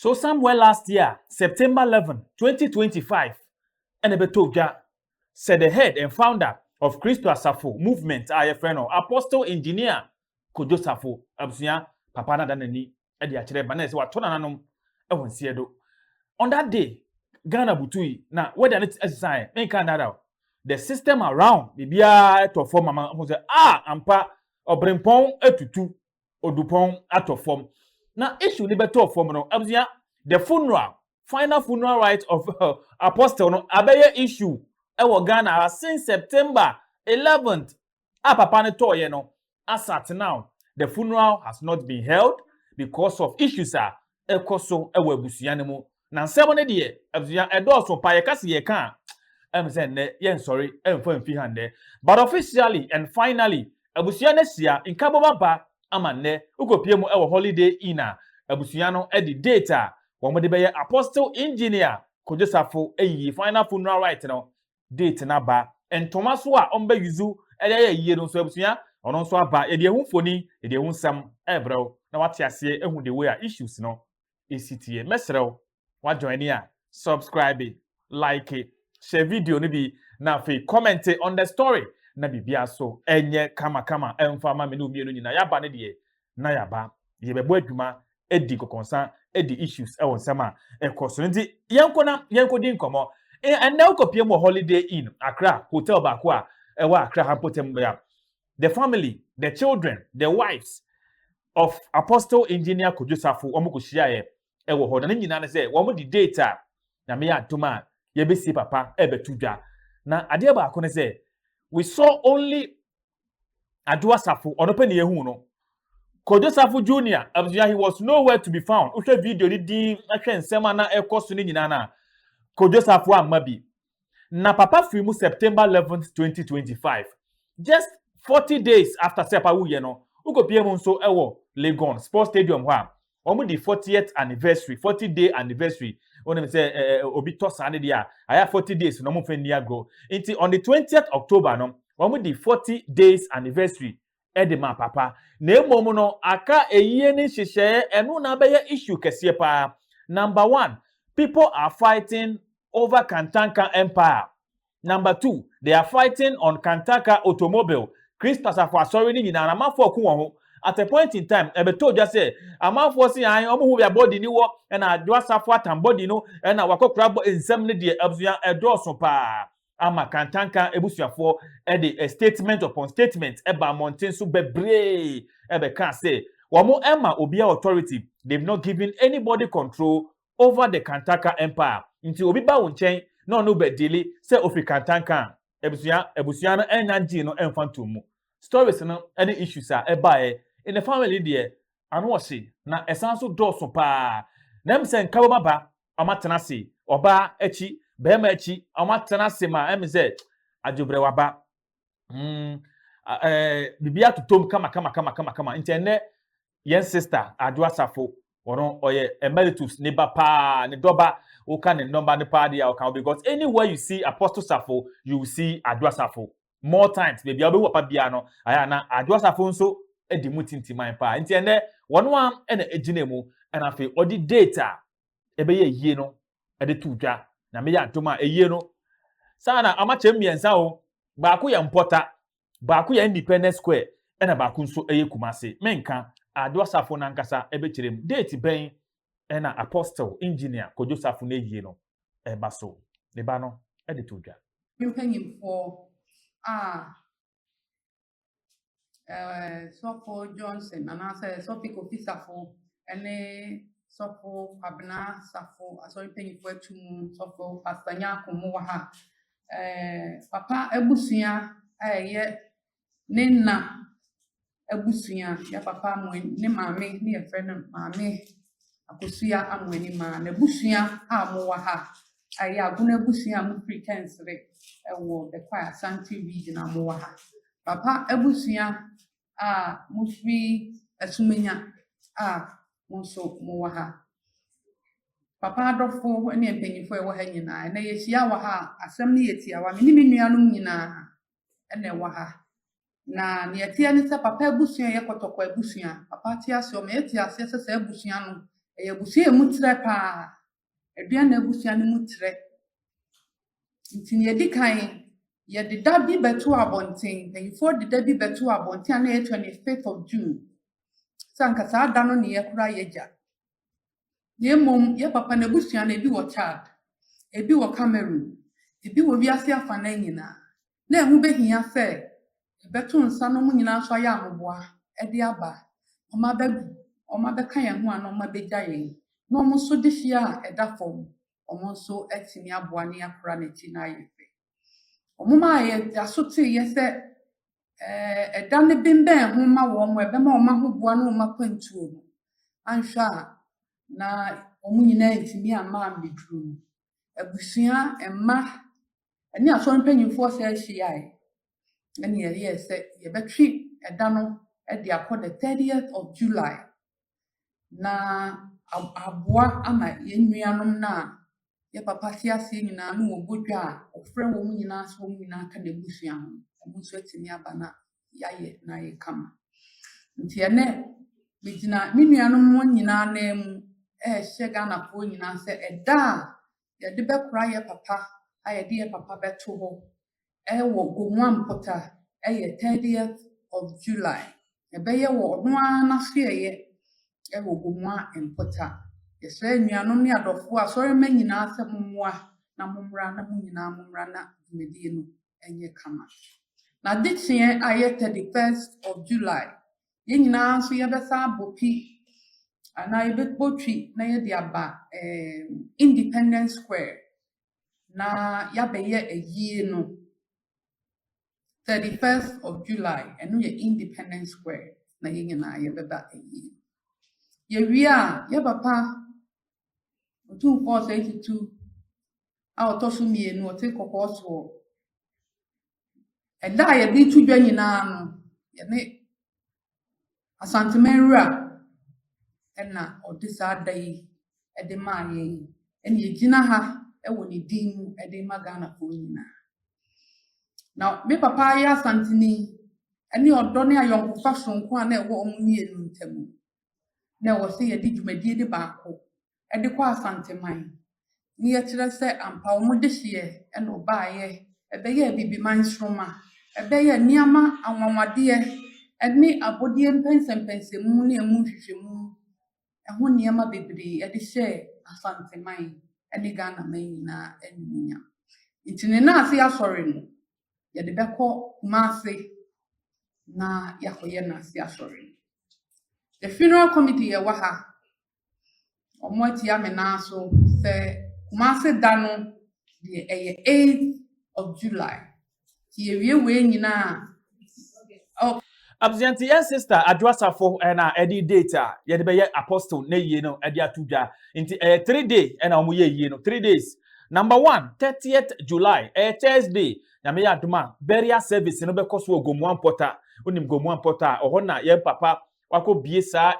So somewhere last year September eleven, twenty twenty five na ɛbɛtɔ dwa sɛ the head and founder of Kristo Asafo movement a yɛfrɛ no Apostle Engineer Kojo Safo abusua papa no ada n'ani de akyerɛ ba na ɛsɛ watɔ nananom wɔ nseɛ do. On that day, Ghana butui na weather no sesaeɛ, menka nnada o. The system around, biribiara tɔ fam ama hu sɛ ah ampa ɔbrempɔn atutu odupɔn atɔ fam na issue no bɛtɔ fam no abusua the funeral final funeral right of uh, apostle no abɛyɛ issue ɛwɔ ghana ha since september 11th a papa no tɔɔyɛ no asat now the funeral has not been held because of issues a ɛkɔ so wɔ abusua no mu na nsɛm no deɛ abusua ɛdɔɔso pa yɛka se yɛka a ɛm sɛ nnɛ yɛnsɔre ɛmfa mfi ha nnɛ but officially and finally abusua no ahyia nkabom aba ama nnɛ wokɔpie mu ɛwɔ holiday inn a abusua no ɛde date a wɔn de bɛyɛ apostle engineer kodwosafo ɛyiyi final funeral right no date no aba. Ntoma nso a wɔbɛ use de ayɛ ayie no nso abusua, ɔno nso aba. Yɛde ahu mfoni, yɛde ahu nsɛm rebrɛ wo na woate aseɛ ahu the way a issues no si teɛ. Mɛsrɛ wo, woajoine a, subscribe, like, hyɛ video no bi, na afei comment on the story na biribiara nso nyɛ kamakama mfa mma me ne wo mmienu nyinaa. Yɛaba no deɛ, na yɛaba. Yɛbɛbɔ adwuma di nkɔkɔnsa di issues wɔ nsɛm a ɛkɔ so nti yɛnkɔ na yɛnkɔdi nkɔmmɔ ɛnna wokɔpie mu wɔ holiday inn akra hotel baako a ɛwɔ akra ha mpɔtam bɛa the family the children the wives of apostle engineer kojo safo wɔn kɔhyiaeɛ ɛwɔ hɔ na ne nyinaa no sɛ wɔn de date a nyame yɛ atom a yɛbɛsi papa ɛbɛto dwa na adeɛ baako no sɛ we saw only Adwo Asafo, ɔno pɛ na yɛhu no. Kojo Safo Junior, abusua he was nowhere to be found. Wohwɛ video no din na hwɛ nsɛm a na ɛkɔ so no nyinaa no a, Kojo Safo amma bi. Na papa firi mu September 11, 2025. Just 40 days after sɛ papa wuyɛ no, wokɔpie mu nso wɔ Legon Sports Stadium hɔ a, wɔn de fortieth anniversary forty day anniversary wɔn sɛ ɛɛ obi tɔ saa ne deɛ a ayɛ forty days na wɔn fɛn ni agorɔ nti on the twentieth october no wɔn de forty days anniversary ɛde ma papa na emom no aka eyie ne nhyehyɛɛ ɛno na abɛyɛ issue kɛseɛ paa number one people are fighting over kantanka empire Number two, they are fighting on Kantaka automobile. Christ Asafo Asɔre no nyinaa no, amanfoɔ ɔko wɔ ho. At a point in time, ɛbɛtɔ odwa sɛ, amanfoɔ se an, wɔn ho bia body ni wɔ, ɛna Adwo Asafo atam body no, ɛna wakɔkora bɔ nsɛm no deɛ, abusua, ɛdɔɔso paa. Ama Kantanka abusuafoɔ ɛde statement upon statement ɛba mmɔnten so bɛbree ɛbɛkaa sɛ, wɔn ɛma obiara authority, they've not given anybody control over the counter ka mpo a, nti obi ba wo nkyɛn na ɔne wo bɛ deale sɛ ofi kantanka a, abusua abusua no ɛnnya ngyee no ɛmfa ntoo mu. Stories no ɛne issues a ɛbaeɛ in the family deɛ, ano ɔhye na ɛsan nso dɔɔso paa. Na ɛm sɛ nka bɛma ba, ɔmo atena ase, ɔbaa akyi, bɛɛma akyi, ɔmo atena ase ma ɛm sɛ adwobrɛ waba. Hmm, ɛɛ biribiara totom kama kama kama kama kama, nti ɛnnɛ yɛn sister adwo asafo ɔno ɔyɛ emeritus ne ba paa ne dɔba woka ne nɔmba no paa deɛ a ɔka because anywhere you see apostle safo you will see adwo asafo more times baabi a wobɛhu papa biara no ayɛ na adwo asafo nso di mu tintiman paa nti ɛnɛ wɔn a ɛna egyina mu ɛna afei ɔde date a ɛbɛyɛ yie no ɛde to dwa na meyɛ adom a ɛyie no saa na amakyɛ mmiɛnsa o baako yɛ mpɔta Baako yɛ Independence Square ɛna baako nso ɛyɛ Kumase. Menka, Ado Asafo no ankasa ɛbɛkyerɛ mu. Date bɛn ɛna Apostle Engineer Kojo Safo n'ayie no ɛba so? Ne ba no ɛde to dwa. Mpanyinfoɔ a ɛɛ Sɔfo Johnson anaasɛ Sɔfo Kofi Safo ɛne Sɔfo Kwabena Safo asɔre mpanyinfoɔ atu mu Sɔfo Pastor Nyako mo wɔ ha papa abusua a ɛyɛ ne na abusua, yɛ papa amoa ne maame ne yɛfrɛ no maame Akosua Amoanima. N'abusua a wɔwɔ ha a ɛyɛ Agona abusua a wɔfiri Kɛnsere wɔ Bekwai Asante Region a wɔwɔ ha. Papa abusua a mofiri Asumenya a mo nso mowɔ ha. Papa adɔfo ne mpanyimfo a ɛwɔ ha nyinaa, ɛnɛ yɛahyia wɔ ha a, asɛm no yɛ tiawa. Me ne me nuanom nyinaa na ɛwɔ ha. Na nea ɛteɛ ne sɛ papa abusua yɛ kɔtɔkɔ abusua. Papa te ase, ɔma yɛte aseɛ sɛ saa abusua no, ɛyɛ abusua a emu trɛ paa. aduan a abusua no mu kyerɛ. Nti nea edi kan, yɛde da bi bɛto abɔnten, mpanyimfoɔ de da bi bɛto abɔnten a na ɛyɛ 25th of June. Sɛ anka saa da no na yɛkora yɛagya. Na mmom yɛ papa no abusua no ebi wɔ Chad, ebi wɔ Cameroon, ebi wɔ wiase afanan nyinaa. na ɛho bɛhia sɛ yɛbɛto nsa na wɔn nyinaa nso ayɛ ahoboa de aba. Wɔabɛgu, wɔabɛka yɛn ho anaa wɔabɛgya yɛn, na wɔn nso de fie a ɛda fam, wɔn nso atumi aboa na yɛakora n'akyi na ayɛ fɛ. Wɔn a yɛda so teeɛ sɛ eh, ɛda no bembɛn ho ma wɔn a ɛbɛma wɔn ahoboa ne wɔn akwantuo no, anhwɛ a na wɔn nyinaa ntumi amma ammɛduru no. abusua, mma ne asɔr mpanyimfoɔ sɛ hyiae na yɛyɛɛ sɛ yɛbɛtwe da no de akɔ the thirtieth of July na ab aboa ama yɛn nuanom no a yɛn papa te ase nyinaa na wɔbɔ dwa a, wɔfrɛ wɔn nyinaa sɛ wɔn nyinaa ka n'abusua ho. Wɔn nso atumi aba na yɛayɛ na ayɛ kama. Ntsi ɛnnɛ, migyina me nuanom hɔn nyina ananmu rehyɛ Ghanafoɔ nyina sɛ da a yɛdze bɛkora yɛ papa a yɛdze yɛ papa bɛto hɔ wɔ Gomoa mpota yɛ 30th of July. Yɛbɛyɛ wɔ ɔno ara n'asoɛeɛ wɔ Gomoa mpota. Yɛsrɛ anuanom ne adɔfoɔ, asɔrmba nyina sɛ momboa na mombra na mo nyina mombra na dwumadie no ɛnyɛ kama. N'adekyeɛ a ɛyɛ thirty first of July, yɛn nyinaa nso yɛbɛsan abɔ pi anaa yɛbɛbɔ twi na yɛde aba ɛɛm Independence Square na yɛabɛyɛ ayie no. Thirty first of July, ɛno yɛ Independence Square na yɛn nyinaa yɛbɛba ayie. Yɛwie a, yɛ papa Otumfoɔ Osei Tutu a ɔtɔ so mmienu, ɔte kɔkɔɔ soɔ. Ɛda a yɛde to dwa nyinaa no, yɛne Asanteman wura na ɔde saa da yi de maa yɛn yi. Ɛna yɛgyina ha wɔ ne din mu de ma Ghanafoɔ nyinaa. Na me papa yɛ Asanteni ne ɔdɔ ne ayɔnkofa soronko a na ɛwɔ wɔn mmienu ntam. Na ɛwɔ sɛ yɛde dwumadie no baako de kɔ Asanteman. Ne yɛkyerɛ sɛ ampa wɔn dehyeɛ na wɔbaeɛ. Ɛbɛyɛ Abibiman nsoromma. Ɛbɛyɛ nneɛma anwanwadeɛ ne abɔdeɛ mpɛnsɛmpɛnsɛmu ne ɛmu nhwehwɛmu ho nneɛma bebree de hyɛɛ Asanteman ne Ghanaman nyinaa animuonyam. Nti ne nan ase asɔre no, yɛde bɛkɔ Kumase na yɛakɔyɛ nan ase asɔre no. The funeral committee a ɛwɔ ha, Wɔn atua me nan so sɛ Kumasi da no deɛ ɛyɛ eighth of July. Nti yɛwie wei nyinaa oh. Abusua nti yɛn sister Adwo Asafo ɛna ɛde date a yɛde bɛyɛ apostle ne yie no ɛde ato dwa. Nti ɛyɛ three day ɛna wɔn yɛ yie no three days. Number one, 30th July, ɛyɛ Thursday, nyame yɛ adoma, burial service no bɛkɔ so wɔ Gomoa Mpɔta, wonim Gomoa Mpɔta a, ɔhɔ na yɛn papa wakɔ bie saa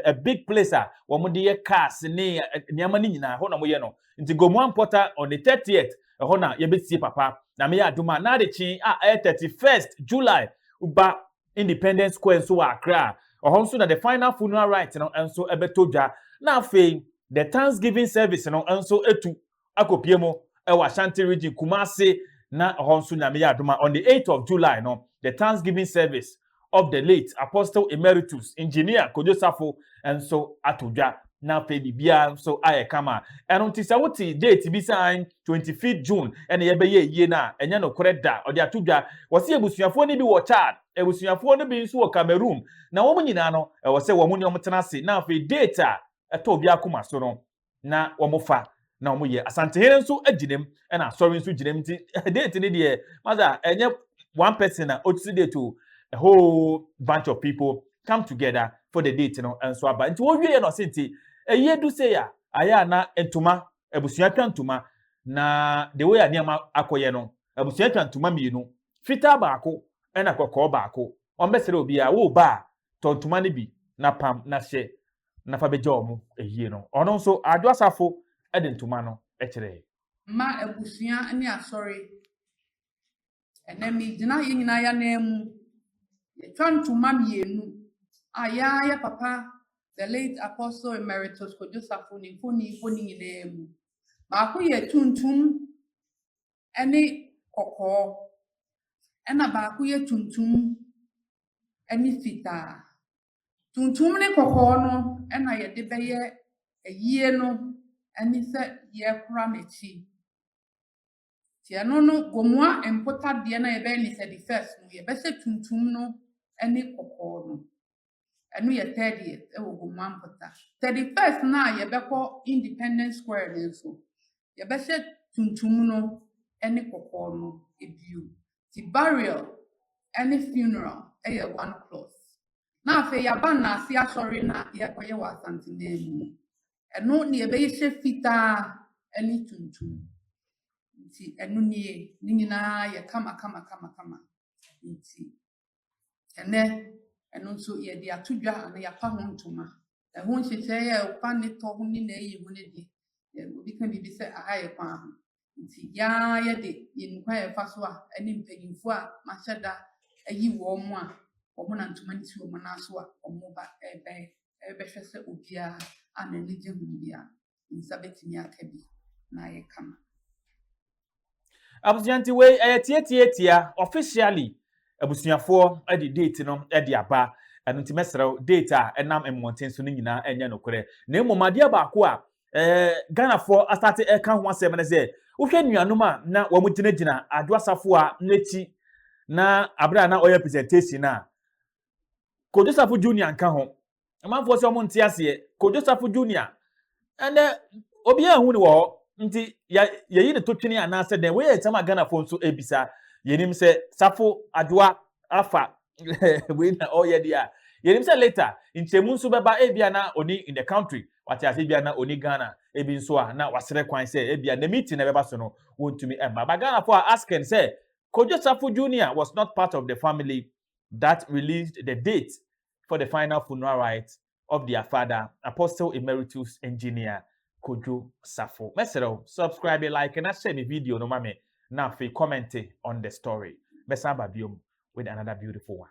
a big place a wɔn de yɛ cars ne nneɛma no nyinaa ɛhɔ na wɔyɛ no nti gomoa mpɔta on the thirtieth ɛhɔ na yɛbɛsie papa na meyɛ adum a na adekye a ɛyɛ thirty first july ba independence square nso wɔ akra a ɔhɔ nso na the final funeral right no nso ɛbɛtɔ dwa na afei the thanksgiving service no nso etu akɔpue mu wɔ Ashanti Region, Kumasi, na hɔ nso Nyame yɛ adom a on the eighth of July no, the Thanksgiving service of the late Apostle Emeritus Engineer Kojo Safo nso ato dwa, na afei biribiara nso ayɛ kama. Ɛno nti sɛ wote date bi sɛ ae, twenty fifth June na yɛbɛyɛ ayie no a, ɛnyɛ nokorɛ da, ɔde ato dwa. Wɔse abusuafoɔ no bi wɔ Chad, abusuafoɔ no bi nso wɔ Cameroon, na wɔn nyinaa no ɛwɔ sɛ wɔn ne wɔn tena ase, na afei date a ɛtɔ obiara koma so no, na wɔfa na wɔyɛ asantehene nso gyina mu ɛna asɔre nso gyina mu nti date ne deɛ masa ɛnyɛ one person a ɔtisi date o a whole bunch of people come together for the date no nso aba nti wɔwie yɛ na ɔse nti ɛyɛ du sɛ yɛ a ayɛ a na ntoma abusua twa ntoma na the way a nneɛma akɔyɛ no abusua twa ntoma mmienu fitaa baako ɛna kɔkɔɔ baako wɔn bɛsrɛ obiara wo ba a tɔ ntoma no bi na pam na hyɛ na fa bɛgya wɔn ayie no. Ɔno nso, Adwo Asafo de ntoma no kyerɛe. Mma abusua ne asɔre. Ɛnnɛ megyina yɛn nyinaa yɛn anan mu. Yɛtwa ntoma mmienu a yɛn ara yɛ papa the late Apostle Emeritus Kojo Safo ne mfoni bɔ ne nyinaa mu. Baako yɛ tuntum ne kɔkɔɔ, ɛna baako yɛ tuntum ne fitaa. Tuntum ne kɔkɔɔ no na yɛde bɛyɛ ayie no ne sɛ yɛkora n'akyi. Nti ɛno no gomua mpotadeɛ no a yɛbɛyɛ ne sɛ the first no yɛbɛhyɛ tuntum no ne kɔkɔɔ no. Ɛno yɛ thirtieth wɔ gomua mpota. Thirty first no a yɛbɛkɔ Independence Square no nso yɛbɛhyɛ tuntum no ne kɔkɔɔ no bio. Ntsi burial nye funeral yɛ one cloth. Na afei yɛaba Naase asɔre no a yɛkɔyɛ wɔ Asantse man mu no, no na yɛbɛhyɛ fitaa nye tuntum. Ntsi no nye, ne nyina yɛ kamakamakamakama. Ntsi ndɛ no so yɛdze ato dwa anaa yɛapa ho ntoma. Ho nhyehyɛɛ a ɔfa ne tɔ ho nye n'eyi ho no dze, obi kã biribi dze sɛ aha yɛ kwan ho. Nti yaa yɛde yɛn kwan a yɛfa so a ɛne mpanyimfo a mahyɛ da ayi wɔn a wɔnam ntoma no si wɔn nan so a wɔba rebɛn rebɛhwɛ sɛ obiara a n'ani gye ho biara ne nsa betumi aka bi na ayɛ kama. Abusua nti wei ɛyɛ tiatiatia officially abusuafoɔ de date no de aba ɛno nti mɛsrɛ date a ɛnam mmɔnten so no nyinaa ɛnyɛ nokorɛ na mmom adeɛ baako a eh, ghanafoɔ asate ɛka ho asɛm no sɛ wohwɛ nuanom a na wɔn gyinagyina adwo asafo a n'akyi na abere a na ɔyɛ presentation no a kodwo safo junior nka ho amanfoɔ sɛ wɔn nte aseɛ kodwo safo junior ɛnɛ obiara hu ne wɔ hɔ nti yɛyi ne to twene anaasɛ dɛn wɔyɛ nsɛm a ghanafoɔ nso ebisa yɛnim sɛ safo adwoa afa wei na ɔyɛ deɛ a yɛnim sɛ later nkyɛmu nso bɛba ebia na oni in the country Wate ase? Ebia na ɔni Ghana, ebi nso a na wasrɛ kwan sɛ ebia ne meeting a ɛbɛba so no wɔntumi mma. But Ghanafo are asking sɛ Kojo Sarfo Junior was not part of the family that released the date for the final funeral rites of their father, Apostle Emeritus Engineer Kojo Sarfo. Mɛsrɛ wo, subscribe, like na share me video no ma me na afei comment on the story. Mɛsan ba biom with another beautiful one.